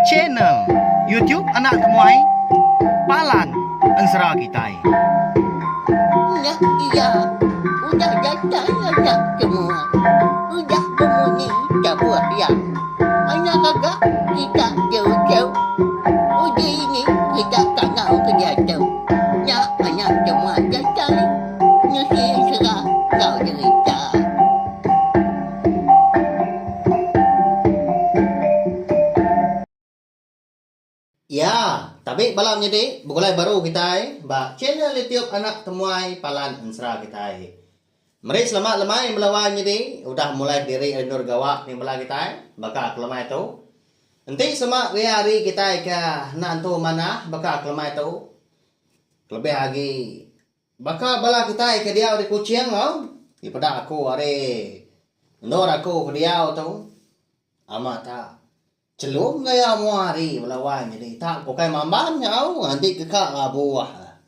Channel YouTube Anak Temuai Palan Ensera Kitai. Udah iya, udah datai anak temuai, udah bemunyi tabuh iya. Anak gaga kita diuchau, uji ini kita tangau ke diatu. Nya anak temuai datai, nusi ensera enggau derita. Iya, tabi bala menyedi begulai baru kitai ba channel YouTube anak temuai Palan Ensera kitai. Meri selamat lemai bala wai menyedi udah mulai kediri ari endur gawa ning bala kitai baka aku lemai tu. Enti sema ria ari kitai ke enda entu manah baka aku lemai tu kelebih agi Baka bala kitai ke diau di Kuching lo, ti peda aku ari endur aku ke diau tu, ama ta chelum gaya mua hari bala wai nyadi ta ke ukai mamban nyau nganti ke ka labu aha.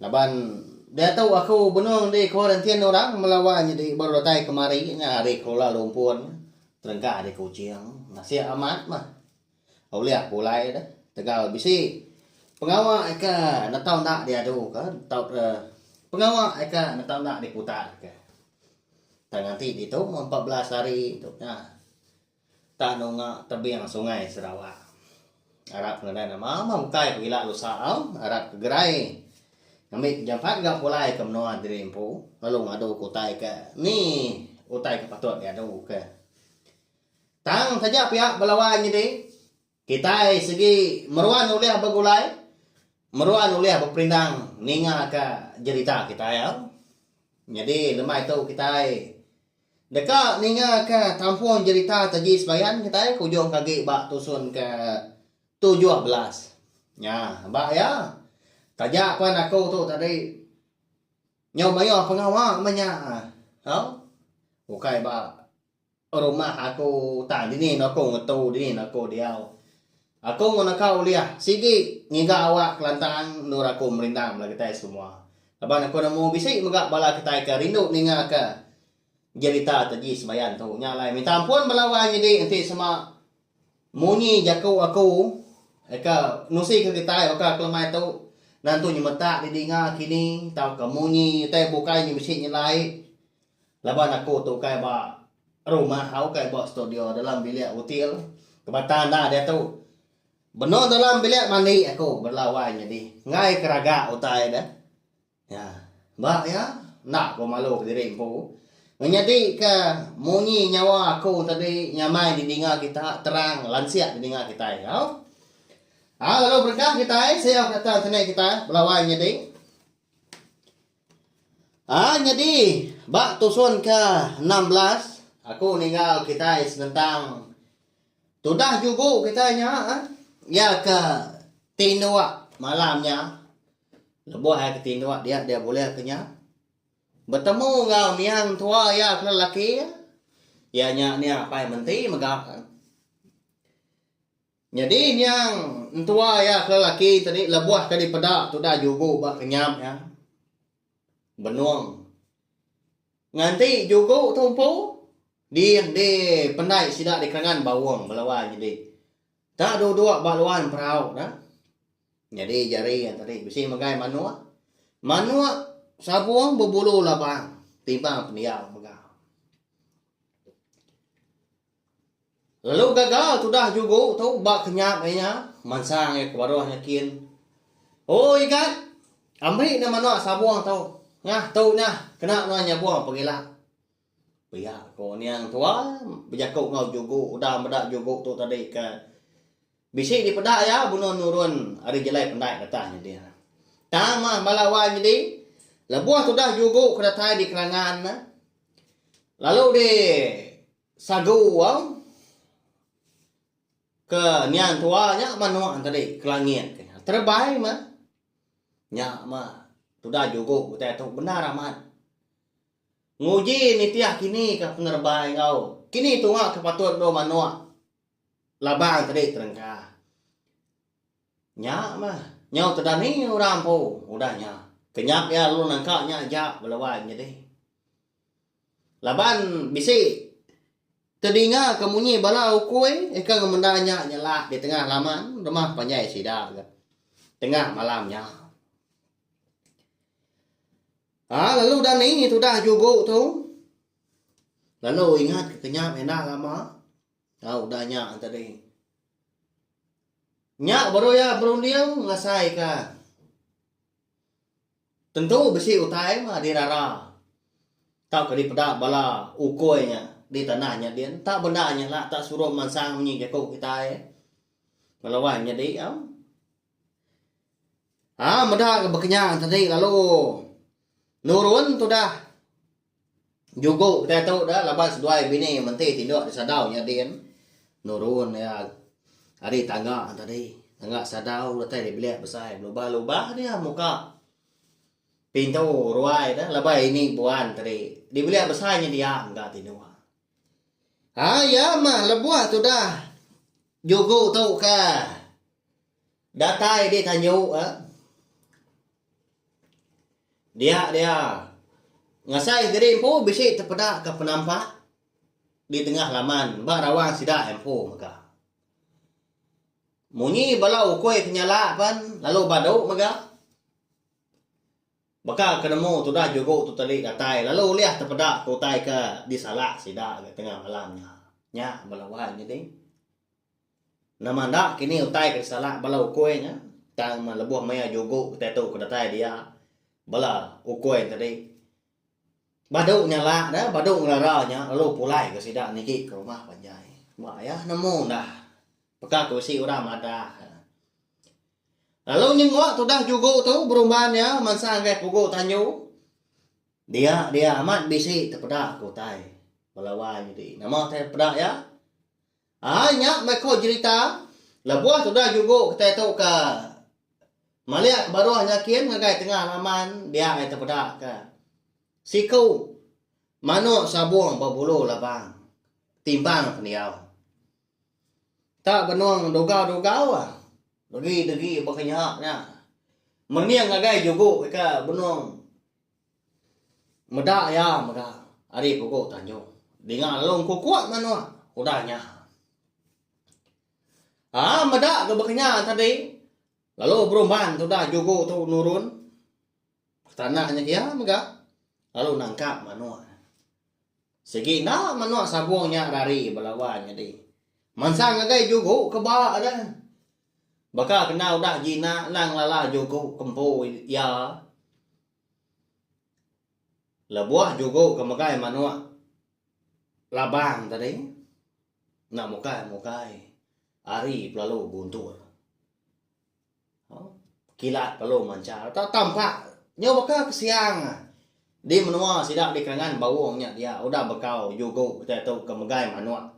Laban diatu aku benung di kuarantin orang bala wai nyadi baru datai kemari nya ari Kuala Lumpur terengkah di Kuching. Nasik amat meh. Ulih aku alai deh tegal bisi pengawa ke netau enda diadu ke tau pengawa ke netau enda diputar ke tang enti ditu empat belas hari tu nya tak nunga tebing sungai Sarawak arap ngadan ne mamah ukai ku ila lusa au arap ke gerai ngambi jampat ga aku alai ke menua diri empu lalu ngadu ke utai ke ni utai ke patut diadu ke. Tang taja pia bala wai nyadi, kitai sigi meruan ulih begulai, meruan ulih beperindang ningaka jerita kitai au. Nyadi lemai tu kitai deka ningaka tampung jerita taji sebayan kitai ke ujung ke agi ba tusun ke tujuh belas. Nya ba iya, taja pen aku tu tadi nyau mayuh pengawa meh nya au, ukai ba. Rumah aku utai dini enda ku ngetu dini enda ku diau. Aku enggau naka ulih sigi ngiga awak kelantang endur aku merindang bala kitai semua. Laban aku nemu bisi mega bala kitai ke rindu ninga ke jerita Taji Sebayan tu. Nya alai minta ampun bala wai nyadi enti sema munyi jaku aku ke nusi ke kitai baka kelemai tu nentu nyemetak di dinga kini tauka munyi utai bukai nya bisi nyelai Laban aku tu ukai ba rumah au ukai ba studio dalam bilik hotel kebatan dah diatu. Benung dalam bilik mandi aku bela wai nyadi enggai ke raga utai deh. Nya ba iya enda ku malu ke diri empu menyadi ke munyi nyawa aku tadi nyamai di dinga kita terang lansik di dinga kitai enggau. Au lalu berengkah kitai sio ke atas sini kitai bela wai nyadi. Aa nyadi ba tusun ke enam belas aku ninggal kitai senentang tudah jugu kitai nya eh iya ke tinduk malam nya lebuh ai ke tinduk dia dia bulih ke nya betemu enggau niang tua iya ke lelaki iya nya niang apai menti mega. Nyadi nyang entua iya ke laki tadi lebuh ke dipeda tudah jugu ba kenyap iya benung. Nganti jugu tu empu di di pendai sida di kerengan Baung ba luar nyadi. Enda duduk ba luar emperau da. Nyadi jari iya tadi bisi megai manuk. Manuk sabung bebulu labang timbang pendiau mega. Lalu gagal tudah jugu tu ba kenyap ai nya, mansang iya ke baruh nyakin, Oi Igat, ambi neh manah sabung tu. Nah, tu neh, kena nuan nyabung pegila. Pia ko Niang Tua bejaku enggau jugu udah meda jugu tu tadi ke bisi dipeda iya benung nurun ari jelai pendai datang nyadi. Tang mah bala wai nyadi, lebuh tudah jugu ke datai di kelangan ne, lalu di. Sagu wang ke niang tua nya mah nuan tadi ke langit ti. Terebai mah. Nya mah tudah jugu utai tu bendar amat. Nguji nitih kini ka penerebai enggau kini tunga ke patut dulu manok labang tadi terengka. Nya mah nyau tudah ni orang empu udah nya. Kenyap iya lalu nengka nya aja bala wai nyadi. Laban bisi tedingaka munyi bala ukui eka ngemenda nya nyelak di tengah laman rumah panjai sida ga tengah malam nya. Ha lalu dani tudah jugu tu lalu ingatka ke nya enda lama tau udah nya tadi. Nya baru iya berunding ngasaika. Tentu bisi utai mah dirara tauka dipeda bala ukui nya di tanah nya din. Enta bendar nya lah enta suruh mansang munyi jaku kitai ngelawai nyadi am. Aa meda ga bekenyang tadi lalu nurun tudah Jugo kitai tu da laban seduai bini menti tindok disadau nya din nurun iya ari tangga tadi tangga sadau datai dibilik besai belubah lubah dia muka pintu ruai da laban ini buan tadi dibilik besai nya dia mega tindok ai iya mah lebuh tudah jugo tu ka. Datai di tanyu ka. Dia dia. Ngasai diri empu bisi tepeda ka penampak di tengah laman ba rawang sida empu mega. Munyi bala ukui ti nyala pen lalu badu mega. Baka ke nemu tudah jugu tu teli datai lalu ulih tepeda ke utai ke disalah sida ga tengah malam nya. Nya bala wai nya ding. Nama enda kini utai ke disalak bala ukui nya tang lebuh maya jugu kitai tu ke datai dia bala ukui tadi badu nyalak da badu ngerara nya lalu pulai ga sida nigi ke rumah panjai ba iya nemu enda peka ke bisi orang madah iya. Lalu nyengok tudah jugu tu berumban iya mansa ngagai pugu tanju dia dia amat bisi tepeda ke utai bala wai nyadi nama utai peda iya Ai nya meh ko jerita. Lebuh tuda jugo kitai tu ka malik ke baruh nya kin ngagai tengah laman dia ai tepeda ka siku manok sabong bebulu labang timbang pendiau. Tak benong dugau dugau ah degi degi baka nya nya mening ngagai jugo ika benong. Meda iya mega ari pugu Tanjung. Dinga lalu engku kuat manua udah nya. Aa meda ga ba kinya tadi lalu berumban tudah jugu tu nurun ke tanah nya iya mega lalu nangkap manua. Sigi enda manua sabung nya rari ba laban nyadi. Mansang agai jugu ke ba deh. Baka kena udah Gina endang ngelala juku empu iya, lebuh juku ke megai manuk labang tadi enda mukai-mukai ari pelalu guntur. Kilat pelalu manchar tau tampak nyau baka ke siang di menua sida di kalangan Baung nya dia udah bekau juku kitai tu ke megai manuk.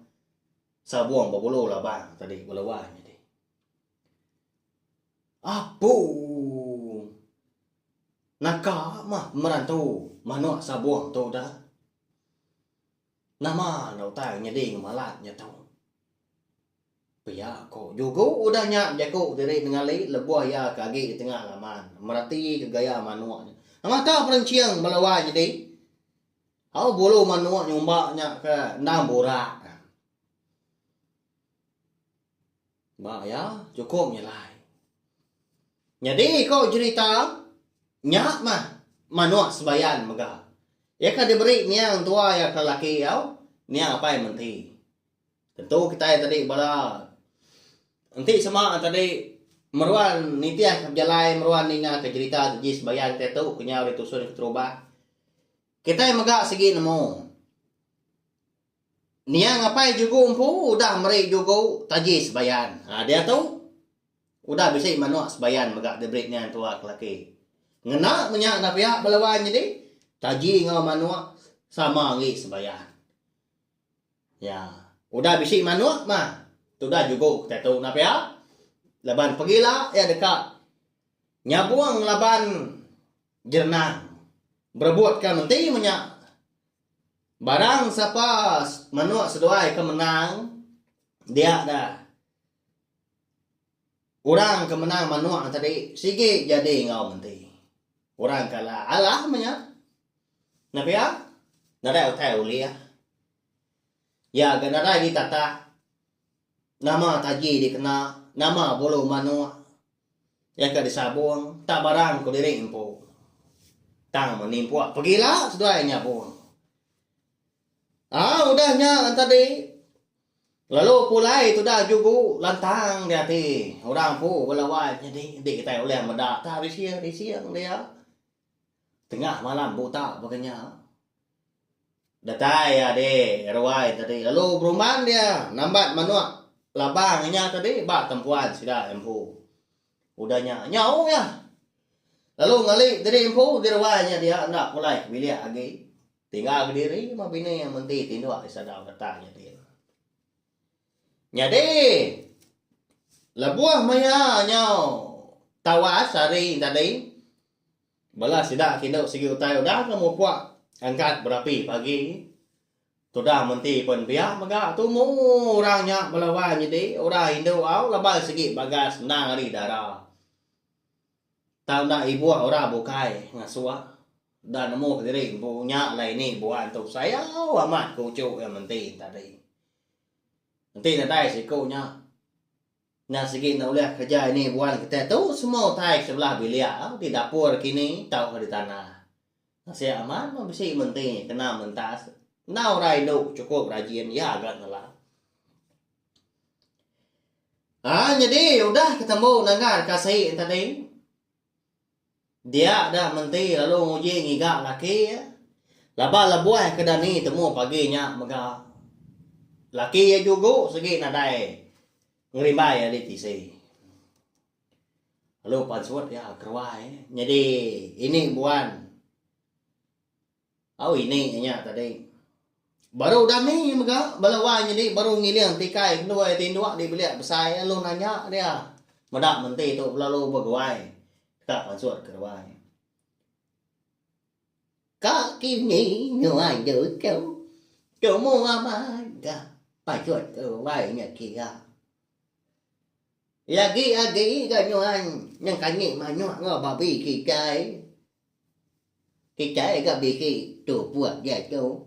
Sabung bebulu labang tadi bela wai nyadi apung. Naka mah pemeran tu manok sabung tu da. Nama enda utai nyadi ngemalat nya tu. Pia ko jugo udah nya bejaku diri nengali lebuh iya ke agi di tengah laman merati ke gaya manok nya. Nama ka perenching bela wai nyadi. Au bulu manuk nyumba nya ke endang burak. Ba iya chukup nyelai. Nyadi ko jerita nya mah manuk sebayan mega. Iya ka diberi niang tua iya ke lelaki au niang apai menti. Tentu kitai tadi bala enti sema tadi meruan nitihka pejalai meruan ningaka jerita keji sembahyang kitai tu ke nyau ditusun keterubah. Kitai mega sigi nemu niang apai jugu empu udah meri jugu taji sembahyang. Ha diatu udah bisi manuk sembahyang mega diberi niang tua ke laki. Ngena menya enda pia bala wan nyadi taji enggau manuk sama angi sembahyang. Nya udah bisi manuk mah tudah jugu ke tetu nah pia laban pegila iya deka nyabung laban jerenang berebut ka menti menya barang sapa manuk seduai ke menang dia da. Orang ke menang manok tadi sigi jadi enggau menti. Orang ke alah alah meh nya. Nepia nadai utai ulih. Iya ga nadai ditatak nama taji dikena, nama bulu manok. Iya ka disabong tak barang ku diri empu. Tang meh nimpok pegila seduai nyabong. Au udah nya tadi Lalu pulai tudah jugu lantang di ati orang empu bala wai nyadi enti kitai ulih meda tah rising rising dia tengah malam buta baka nya. Datai ade ruai tadi lalu berumban dia nambat manuk labang inya tadi ba tempuan sida empu. Udah nya nyau iya lalu ngali diri empu di ruai nya dia enda pulai ke bilik agi. Tinggal kediri jemah bini iya menti tinduk di sadau retak nya din. Nyadi, lebuh maya nyau tawas hari tadi, bala sida ke indu sigi utai udah ke mupuk angkat berapi pagi, tudah menti pen biak mega tumu orang nya belawan nyadi orang indu au laban sigi bagas endang ari dara. Tang enda ibuh orang bukai ngasuk enda nemu kediri empu nya alai ini buah entu sayau amat ku uchu iya menti tadi. Enti nadai siku nya enda sigi enda ulih kerja ini buan kitai tu semua utai ke sebelah bilik di dapur kini tauka di tanah. Nasik amat meh bisi menti kena mentas enda orang indu chukup rajin iya ga ngelap. Haa nyadi udah ketembu nengah deka sei yen tadi. Dia da menti lalu nguji ngiga laki iya. Laba lebuh ke dani temu pagi nya mega laki iya jugu sigi nadai ngerimbai ari tisi. Lalu pansut iya keruai nyadi ini buan Au ini nya tadi. Baru udah ni mega bala wai nyadi baru ngiling tikai nduai ati nduk di bilik besai lalu nanya dia meda menti tu belalu beguai ka pansut ke ruai. Ka kini nyuai dut tu tumu amai ga pansut ke ruai nya kira. Lagi-agi ga nyuai nyengkanyi manyuh enggau babi kitai. Kitai ga bisi tu buah diatu.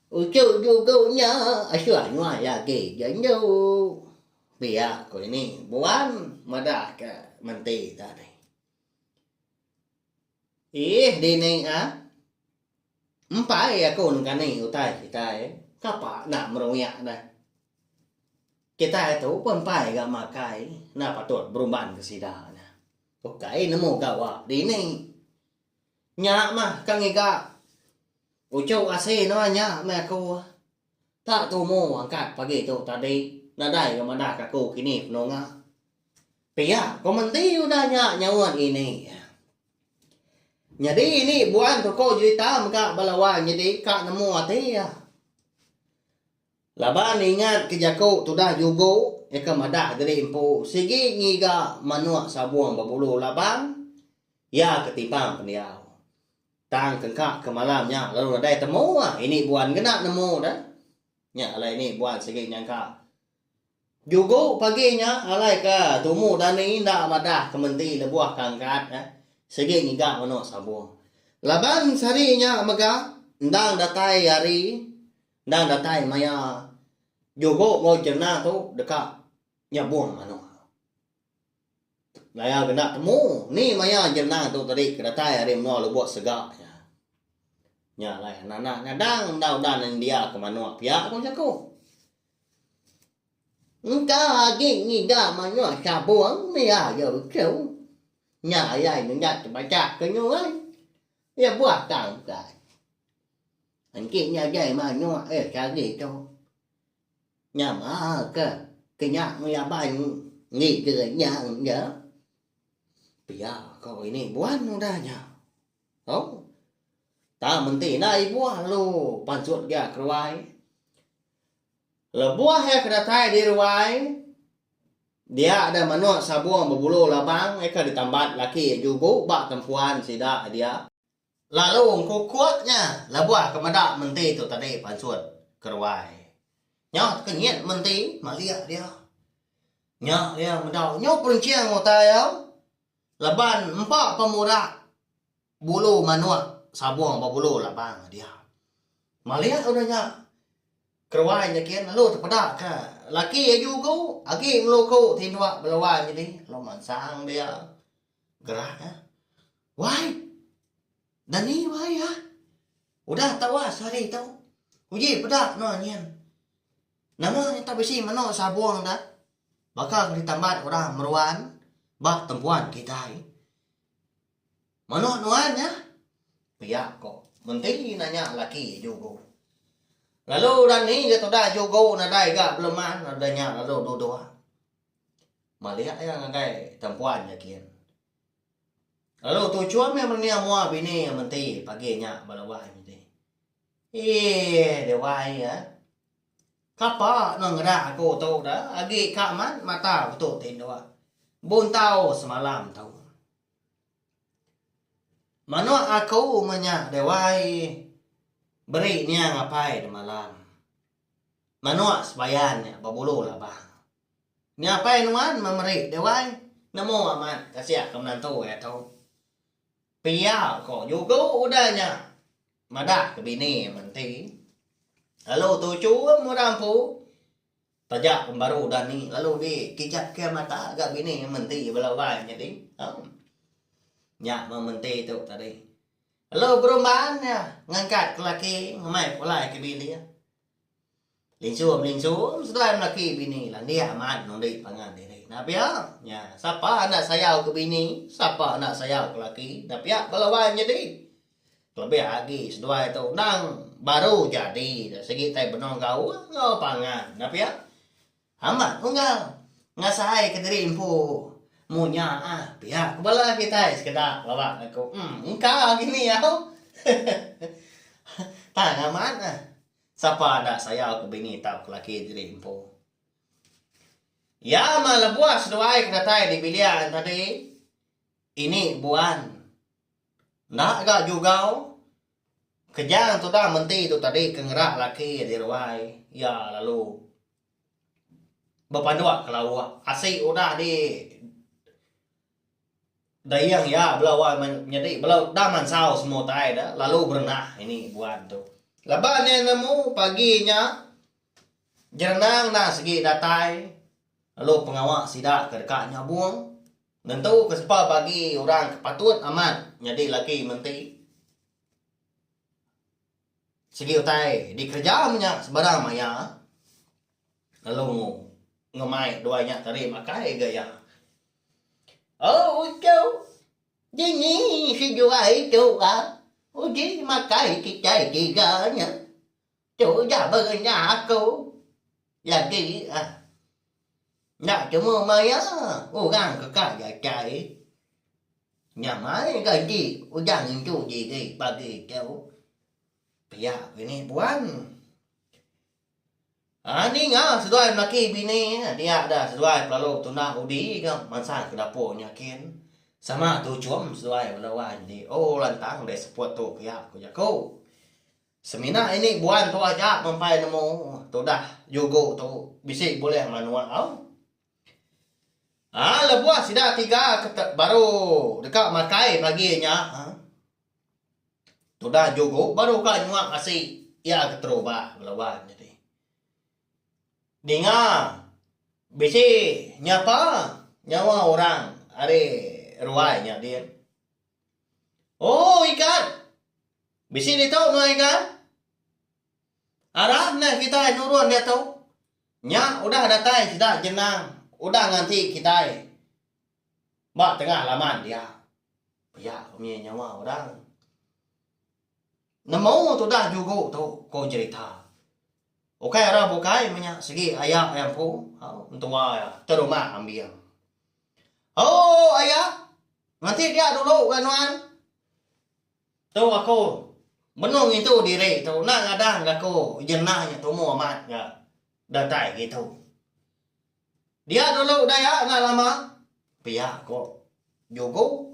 Uchu jugu nya asuh nuan lagi ja endu. Pia ku ini buan madah ke menti tadi. Iih dini ah. Empai aku engkani utai kitai kapa enda meruyak ne. Kitai tu pun empai ga makai enda patut beruban ke sida nya. Ukai nemu gawa dini. Nya mah ka ngiga uchu asi nuan nya meh aku. Tak tumu angkat pagi tu tadi nadai ga madah ka aku kini penunga. Pia kom enti udah nya nyaun ini. Nyadi ini buan tu ko jerita mega bala wang nyadi ka nemu ati iya. Laban ingat ke jaku tudah jugu nyaka madah diri empu sigi ngiga manuk sabung bebulu labang iya ke timbang pendiau. Tang tengka ke malam nya lalu nadai temu ah ini buan ngena nemu da. Nya alai ini buan sigi nyangka. Jugo pagi nya alai ke tumu dani enda madah ke menti lebuh ke angkat eh sigi ngiga meno sabong. Laban sehari nya mega endang datai hari endang datai maya jugo enggau jerna tu deka nyabong manok. Daya kena temu ni maya jerenang tu tadi ke datai ari menua lubuk sega nya. Nya alai anak-anak ngadang enda udah nendia ke manuk pia ku jaku. Engka agi ngiga manuk sabung mih aja uchu. Nya ayai nenggat tebachak ke nyurai. Iya buah tang ukai. Engki nya ajai manuk eh sehari tu. Nya baa ke kenya ngelabang ngiga nya enda pia ko ini buan udah nya. Au. Tang menti enda ibuh lalu pansut dia keruai. Lebuh iya ke datai di ruai dia ada manuk sabung bebulu labang iya ke ditambat laki jugu ba tempuan sida dia. Lalu engkukuk nya lebuh ke meda menti tu tadi pansut ke ruai. Nya teka nyin menti malik dia. Nya dia meda nyu penching utai iya laban empa pemurak bulu manuk sabung bebulu labang dia. Malik udah nya ke ruai nya gin lalu tepeda ke laki iya jugu agi ngeluku tinduk bela wai nyadi lalu mansang dia. Gerak iya. Wai! Dani wai iya. Udah tau ah sehari tu. Uji peda kena nyin. Nama nyata bisi meno sabong da. Baka ke ditambat orang meruan ba tempuan kitai. Meno nuan nya? Pia ko menti nanya laki jugo. Lalu Dani ga tuda jugo nadai ga beleman lalu deh nya lalu dudok. Maliak iya ngagai tempuan iya kin. Lalu tuchum iya menia mua bini iya menti pagi nya bala wai menti. Ih, dia wai iya. Kapa nang ngeda aku tu da agi ka amat mata aku tu tinduk. Buntau semalam tu. Manuk aku menya dia wai beri niang apai da malam. Manuk sebayan nya bebulu labang. Nya pai nuan memeri deh wai. Nemu amat kasihka menantu iya tu. Pia ko jugo udah nya madah ke bini iya menti. Lalu tuchu meda empu taja pembaru udah ni lalu di kijat ke mata ga bini iya menti bela wai nyadi. Au. Nya meh menti tu tadi. Lalu Berumban iya ngangkat ke laki ngemai pulai ke bilik. Linsum-linsum seduai melaki bini landik amat nundi pangan diri. Enda pia nya sapa enda sayau ke bini, sapa enda sayau ke laki. Enda pia bala wai nyadi. Kelebih agi seduai tu endang baru jadi sigi tai benung gaul enggau pangan. Enda pia. Amat unggal ngasaika diri empu mu nya ah pia ku bala kitai sekeda pelaba ngaku em engka agi ni au tang amat ah sapa enda sayauka bini tauka laki diri empu. Iya mah lebuh seduai ke datai dibilian tadi ini buan enda ga jugau Kejang tudah menti tu tadi ke ngerak laki di ruai iya lalu bepanduk ke lauk asi udah di dayeng iya bela wai menyadi bela da mansau semua utai da lalu berenah ini buan tu. Leba nya nemu pagi nya jerenang enda sigi datai lalu pengawa sida ke deka nyabung. Nentu ke sepa bagi orang ke patut amat nyadi laki menti. Sigi utai dikereja menya sebarang maya lalu ngemai dua nya tadi makai gaya. Oh uchu, dini seduai tu ah uji makai kitai tiga nya. Tu udah berenya aku lagi ah. Nya cuma maya orang ke ka jatai. Nya mai gaji udah ngintu diri pagi tu. Pia ke ni puan. Ha ninga seduai melaki bini dia dah seduai pelalu tuna udi ke mansang ke dapur nya kin. Sama tuchum seduai bela wan di oh lantang deh seput tu pia ku jaku. Semina ini buan tu aja mempai nemu tudah jugo tu bisi bulih manua au. Aa lebuh sida tiga ke te baru deka makai pagi nya aa tudah jugo baru ka nyua asi iya ke terubah belawan jadi ninga bisi nyapa nyawa orang ari ruai nya din. Oh ikan. Bisi ditu nuan ikan. Arap neh kitai nurun diatu. Nya udah datai sida jenang udah nganti kitai ba tengah laman dia. Pia umi nyawa orang. Nemu tudah jugu tu ko jerita. Ukai ara bukai menya segi aya iya empu au entua iya te rumah ambing. Ooh aya ngenti dia dulu ga nuan. Tu aku benung ngintu diri tu enda ngadang ga ko jenah nya tumu amat ga datai ngitu. Dia dulu da iya enda lama pia ko jugu.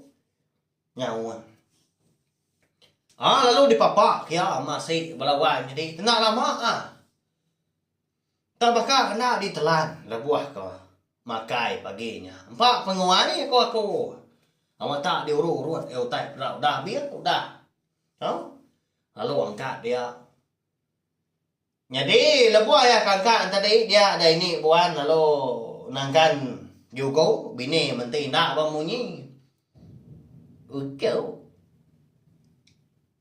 nyaun. Ah lalu dipapa kia ama si bala wai nyadi enda lama ah tang baka enda ditelan lebuh ko makai pagi nya empa penguai ko aku awa tak diuru urut ai utai peda udah bin udah tau lalu angkat dia. Nyadi lebuh iya kangkang tadi dia ada ini buan lalu nangkan juku bini menti enda ba munyi. Uchu.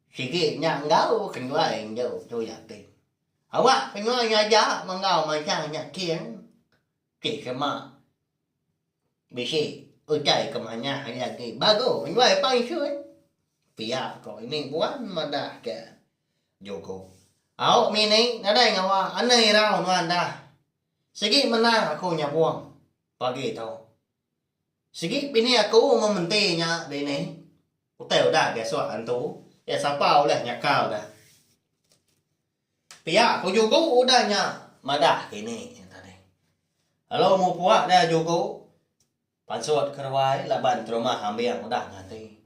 Sigi nya enggau kenyuai enggau tu iya ti. Awak kenyuai ngaja menggau mancang nya king. Ti kema. Bisi utai ke manah iya agi bagu nyuai pansut. Pia ko ini puan madah ke Joko. Au mini nadai ngawa ane irau nuan dah. Sigi menang aku nyabong pagi tu. Sigi bini aku mementi nya dini. Utai udah ke suak antu. Iya sapa ulih nyakal dah. Pia ku juku udah nya madah kini nya tadi. Lalu mu pua dia juku pansut ke ruai laban terumah ambing udah nganti.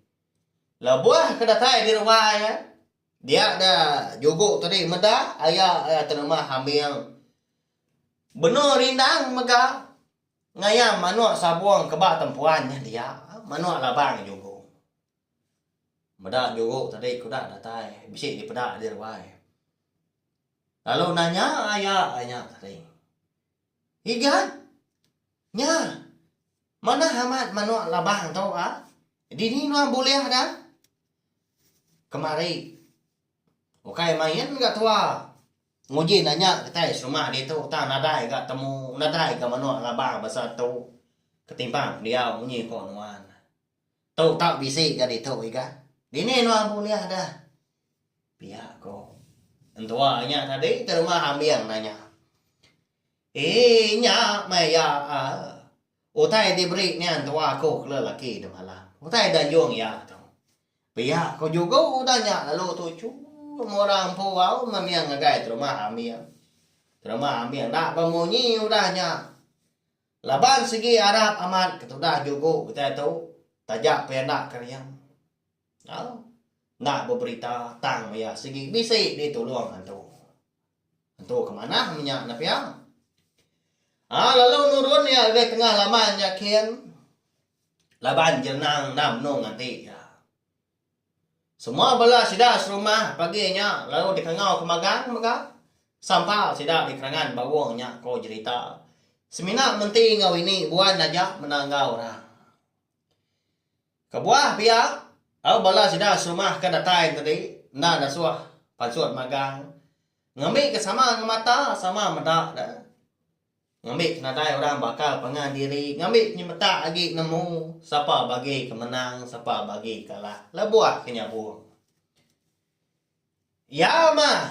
Lebuh ke datai di ruai iya dia dia juku tadi meda aya iya terumah ambing benung rindang mega ngayam manuk sabung ke ba tempuan nya dia manuk labang juku. Meda nyuruh tadi ku udah datai bisi dipeda di ruai. Lalu nanya aya inya tadi. Igan, nya manah amat manok labang tu a. Dini nuan bulih da? Kemari. Ukai main ga tua nguji nanya kitai serumah ditu tang nadai ga temu nadai ga manok labang basa tu ketimbang pendiau munyi ko nuan. Tu tau bisi ga ditu iga. Dini anu ambu lia dah. Pia ko entua nya tadi ke rumah ambing nanya. Ee nya meh iya aa. Utai diberi nia entua aku ke lelaki di malam. Utai da anjung iya tu. Pia ko jugu udah nya lalu tu chuu meh orang empu au meh nia ngagai terumah ambing. Terumah ambing enda bemunyi udah nya. Laban sigi arap amat ketudah juku kitai tu taja pia enda keriam. Au. Enda beberita tang maya sigi bisi ditulung antu. Antu ke manah menya ne pia. Ah lalu nurun iya lebih tengah laman nya kin. Laban jerenang enda menung nganti iya. Semua bala sida serumah pagi nya lalu dikangau ke magang mega sampa sida di kerangan bauh nya ko jerita semina menti enggau ini buan aja mena enggau orang. Kebuah pia au bala sida serumah ke datai tadi enda nesuh pansut magang ngembi ke sama enggau mata sama meda ne. Ngambi ke nadai orang bakal pangan diri ngambi penyemetak agi nemu sapa bagi ke menang sapa bagi kalah lebuh ke nyabung. Iya mah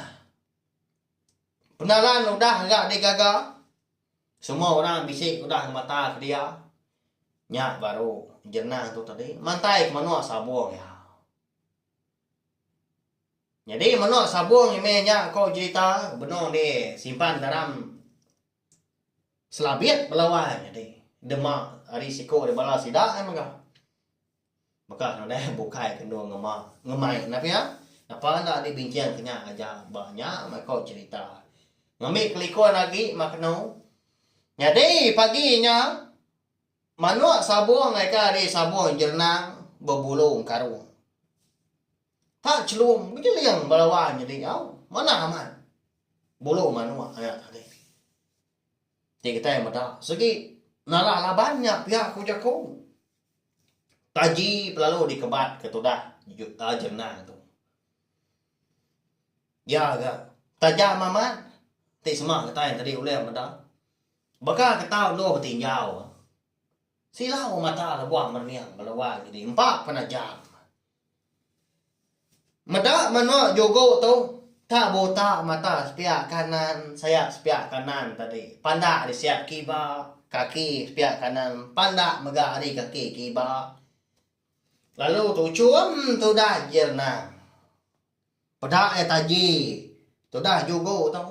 penalan udah ira digaga semua orang bisi ke udah ngemata ke dia nya baru jenang tu tadi mantai ke menua sabung iya. Nyadi menoh sabong imeh nya ko jerita benong di simpan dalam selabit bala wai nyadi dema ari siko ari bala sida ai mega. Baka ne udah bukai ke endo ngema ngemai enda pia napa enda di binchang ke nya aja ba nya meh ko jerita. Ngambi kelikun agi ma keno. Nyadi pagi nya. Manuk sabung eka ari sabung jernang bebulu engkarung. Tak chelum bejeling belawa nyedi nyau. Manah amat bulu manuk nya tadi. Ti kitai meda segi nalah laban nya pia ku jaku. Taji pelalu dikebat ke tudah jernang tu. Iya ga tajam amat ti sema kitai tadi ulih meda. Baka ke tau endur betinjau, sila aum mata lebuh merening ngeluai nyadi empa penajam. Meda menua Jugo tu, tak buta mata sepiak kanan, sayap sepiak kanan tadi pandak ari sayap kiba, kaki sepiak kanan pandak mega ari kaki kiba. Lalu tuchum tudah Jirnang. Peda iya taji tudah Jugo tu.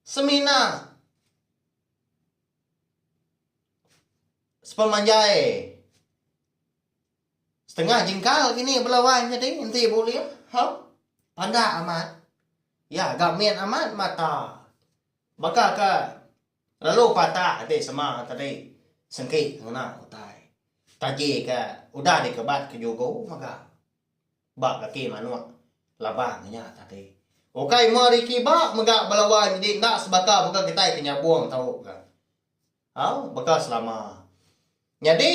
Semina sepemanjai setengah jingkal kini bela wai nyadi enti bulih hau pandak amat iya ga min amat mata baka ke lalu patah ati sema tadi sengki ngena utai taji ke udah dikebat ke jugo mega. Ba kaki manuk labang nya tadi. Ukai meh Ricky ba mega belawan nyadi enda sebaka baka kitai ke nyabung tau ga. Au baka selama. Nyadi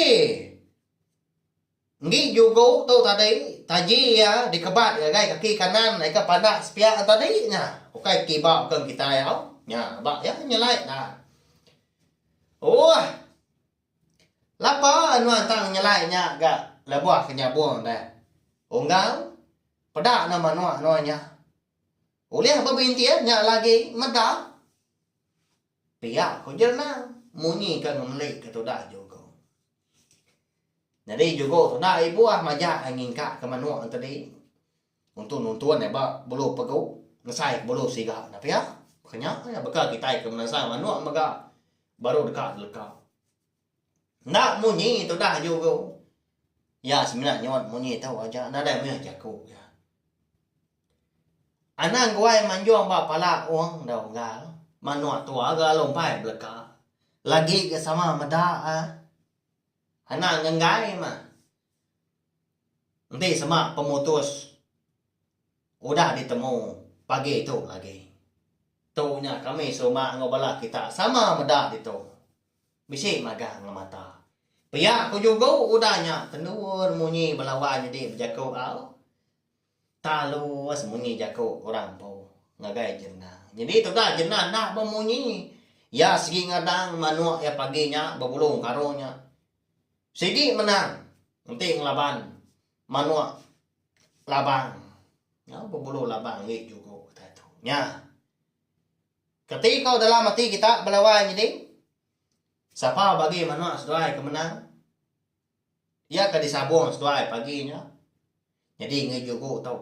enggi jugo tu tadi taji iya dikebat ngagai kaki kanan aika pandak sepiak nya tadi nya. Ukai kiba baka ngan kitai au. Nya ba iya nyelai da. Ooh. Lapa nuan tang nyelai nya ga lebuh ke nyabung deh. Unggal, peda enda manuk nuan nya. Ulih bebintih nya ila agi meda. Pia ku Jerenang munyi ke ngemeli ke tuda jugo. Nyadi jugo tuda ibuh majak ai ngingkak ke manuk enti di. Untung nuntun iya ba buluh pegu ngesai ke buluh siga nya pia. Baka nya iya baka kitai ke menasai manuk mega baru deka teleka. Enda munyi tudah jugu iya semina nyuan munyi tu aja nadai mih jaku iya. Anang guai manjung ba pala ong da unggal manuk tua ga lalu empai beleka lagi ga sama meda eh. Anang nenggai mah. Enti sema pemutus udah ditemu pagi tu agi. Tu nya kami serumah enggau bala kita sama meda ditu. Bisi magang ngemata. Pia ku jugu udah nya tendur munyi bala wai nyadi bejaku au. Talus munyi jaku orang empu ngagai jenang. Nyadi tugas jenang enda bemunyi. Iya sigi ngadang manuk iya pagi nya bebulung karung nya. Sigi menang enti ngelaban manuk labang nyau bebulu labang enggi juku utai tu nya keti ko dalam ati kita bala wai nyadi sapa bagi manuk seduai ke menang iya ke disabung seduai pagi nya nyadi enggi juku tu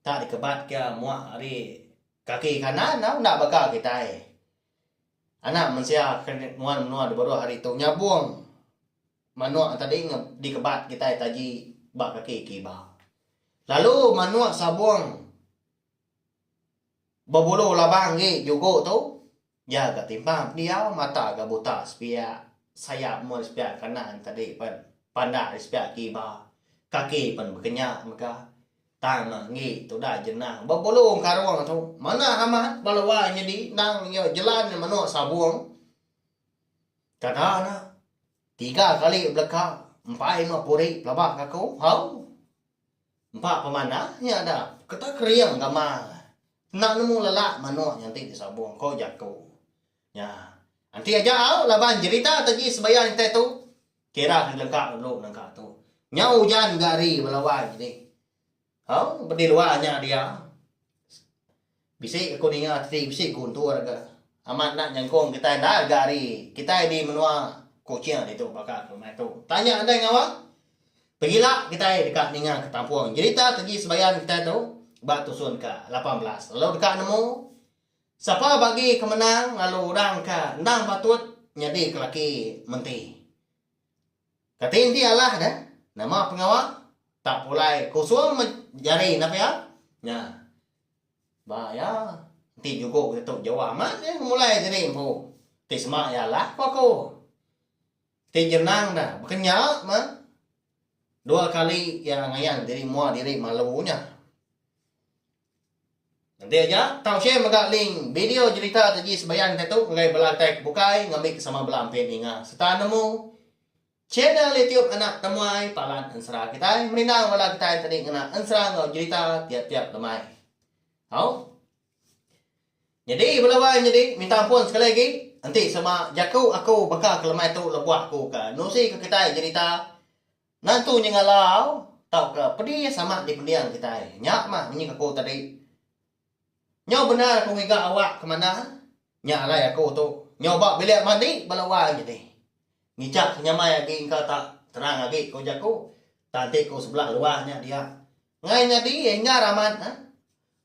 tak dikebat ke muak ari kaki kanan tau enda baka kitai. Anak mensia ke nuan menua di baruh hari tu nyabung manuk tadi dikebat kitai taji ba kaki ke iba. Lalu manuk sabung bebulu labang agi jugo tu iya ga timpang pendiau mata ga buta sepiak sayap mua sepiak kanan tadi pen panda ari sepiak ke iba kaki pen bekenyak mega. Tang nah enggi tudah jenang bepelu karung tu manah amat bala wai nyedi endang iya jelan menoa sabung. Kada nah tiga kali beleka empai meh puri pelabak aku hau. Empa pemanah nya dah keta kering gama enda nemu lelak menoa nya enti disabung ko jaku. Nya enti aja au laban jerita taji sebayar intai tu. Kira ke ngelengka lalu nangka tu. Nyau ujan ga ari bala wai nyadi. Au bedi luar nya dia. Bisi aku ninga tadi bisi guntur ga amat enda nyengkong kitai enda ga ari kitai di menua kuching ditu baka ke meh tu. Tanya andai ngawa pegila kitai deka ninga ke tampung jerita ke gi sebayan kitai tu ba tusun ke lapan belas lalu deka nemu. Sapa bagi ke menang lalu orang ke endang patut nyadi kelaki menti. Kati enti alah ne, nama pengawa tak pulai kusung me jari enda pia? Nya. Ba iya, enti jugo kita tu jauh amat iya ngemulai diri empu. Ti sema iya alah ku aku. Ti jenang da baka nya meh dua kali iya ngayan diri mua diri malu nya. Enti aja, tau share mega link video jerita Teji Sebayan te tu ngagai bala kitai ke bukai ngambi ke sama bala empi ninga sereta nemu channel YouTube Anak Temuai Palan Ensera kitai merindang bala kitai tadi ngena ensera enggau jerita tiap-tiap lemai. Au. Nyadi bela wai nyadi minta ampun sekali agi enti sama jaku aku baka ke lemai tu lebuh aku ke nusi ke kitai jerita Ngantu nyengalau tauka pedi iya sama dipending kitai. Nya mah munyi ke aku tadi. Nyau bendar aku ngiga awak ke manah, nya alai aku tu. Nyau ba bilik mandi bala wang nyadi. Ngichak ke nyamai agi engka tak terang agi ko jaku. Tang ti ko sebelah luah nya dia. Ngai nyadi enggar amat neh.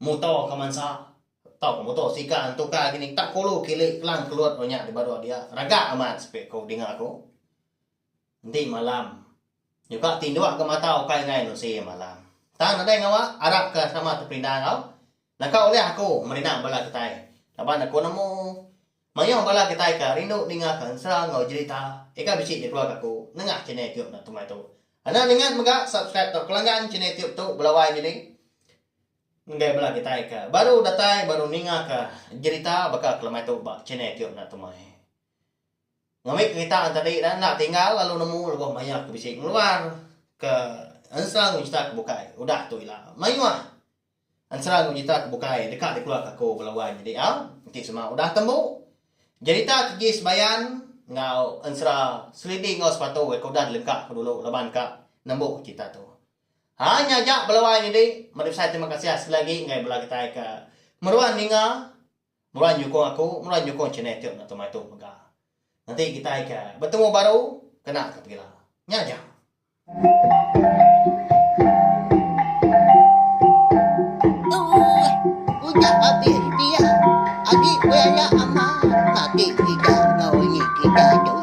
Muto ke mansa tauka muto sika entuka gini tak kulu kili kelang kelut nya dibaru dia. Raga amat sepi ko dinga ko. Enti malam nyuka tinduk ga mata ukai enggai nusi malam. Tang nadai ngawa arap ka sama teperinda enggau naka ulih aku merina bala kitai laban aku nemu mayuh bala kitai ka rindu ninga ka ensa enggau jerita ika bisi di keluarga aku nengah channel YouTube enda temai tu. Enda ningat mega subscribe tau kelanggan channel YouTube tu belawai nyadi ngagai bala kitai ka baru datai baru ninga ka jerita baka kelemai tu ba channel YouTube enda temai. Ngambi kerita nya tadi dah enda tinggal lalu nemu lebuh mayuh ke bisi ngeluar ke ensera enggau jeta ke bukai udah tu ila mayuh ensera enggau jeta ke bukai deka dikeluarka aku bala wang nya diau enti sema udah tembu jerita ke gi sebayan enggau ensera selidi enggau sepatu ke udah dilengka ku dulu laban ka nembu jeta tu hanya aja bala wang nya di meri besai terima kasih sekali agi ngagai bala kitai ke meruan ninga. Mula nyukung aku, mula nyukung channel tu enda tuma itu mega. Nanti kitai ke betemu baru kena ke pegila. Nya aja.